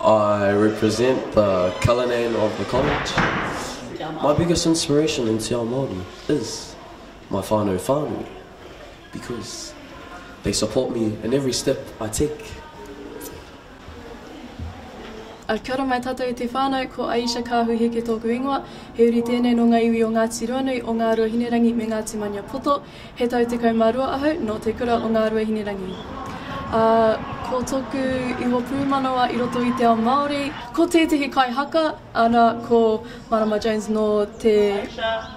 I represent the Cullinan of the college. My biggest inspiration in te ao Māori is my whānau whānui because they support me in every step I take. Kia ora mai tātou e te whānau, ko Aisha Kahu Heke tōku ingoa. He uri tēnei nō ngā iwi o Ngāti Ruanui, o Ngāruahinerangi me Ngāti Maniapoto. He tau tekau mā rua ahau nō te kura o Ngāruahinerangi, ā, ko tōku iwa pūmanawa i roto i te ao Māori, ko tētehi kaihaka, ana, ko Marama Jones nō te,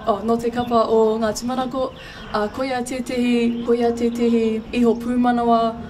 oh, nō te kapa o Ngāti Manako, ā, koia tētehi, koia tētehi iho pūmanawa.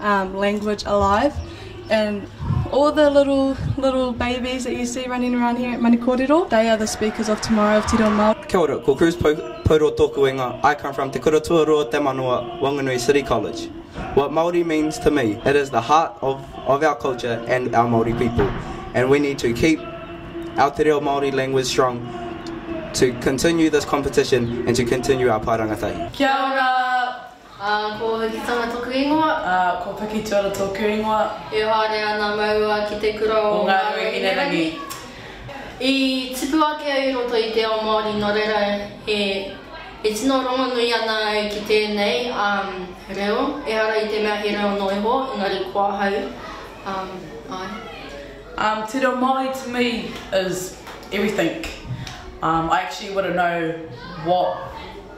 um, language alive. And all the little, little babies that you see running around here at Manikorero, they are the speakers of tomorrow of Te Reo Māori. Kia ora, ko Cruz Pauro tōku wenga. I come from Te Kura Tuarua o Te Manawa, Wanganui City College. What Māori means to me, it is the heart of, of our culture and our Māori people. And we need to keep our Te Reo Māori language strong to continue this competition and to continue our Pārangatahi. Kia ora! Ā, ko Hikitanga tōku ingoa. Ā, ko Pikituara tōku ingoa. E haere ana maua ki te kura o Ngā Rua Hinerangi. I tipu ake au i roto i te ao Māori nō reira e tino rongonui ana au ki tēnei reo, ehara i te mea he reo noa iho, engari ko ahau, āe. Te reo Māori to me is everything. I actually wouldn't know what.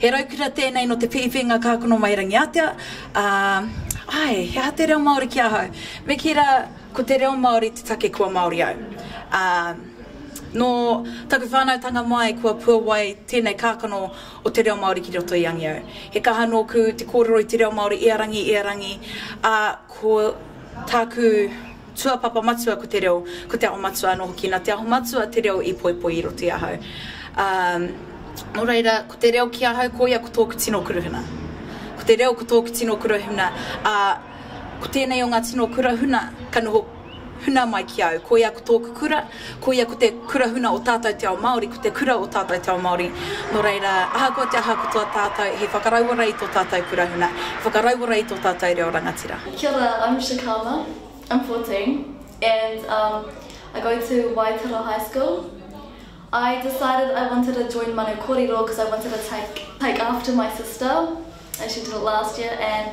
He raukura tēnei nō te Piipiinga Kākono Mai Rangiātea, ā, āe, he aha te reo Māori ki ahau? Me kī rā, ko te reo Māori te take kua Māori au. Ā, nō taku whānautanga mai kua puawai tēnei kākano o te reo Māori ki roto i Angiou. He kaha nōku te kōrero i te reo Māori i a rangi, i a rangi, ā, ko tāku Tuapapa matua ko te reo, ko Te Aho Matua anō hoki. Nā Te Aho Matua te reo i poipoi i roto i ahau. Ā, nō reira, ko te reo ki ahau, koia ko tōku tino kurahuna. Ko te reo ko tōku tino kurahuna, ā, ko tēnei o ngā tino kurahuna ka noho huna mai ki au. Koia ko tōku kura, Koia ko te kura huna o tātou te ao Māori, ko te kura o tātou te ao Māori. Nō reira, ahakoa te aha katoa tātou, he whakarauora i tō tātou kura huna, he whakarauora i tō tātou reo rangatira. Kia ora, I'm Shakama, I'm fourteen and um I go to Waitara High School. I decided I wanted to join Manu Korero cause I wanted to take take after my sister and she did it last year and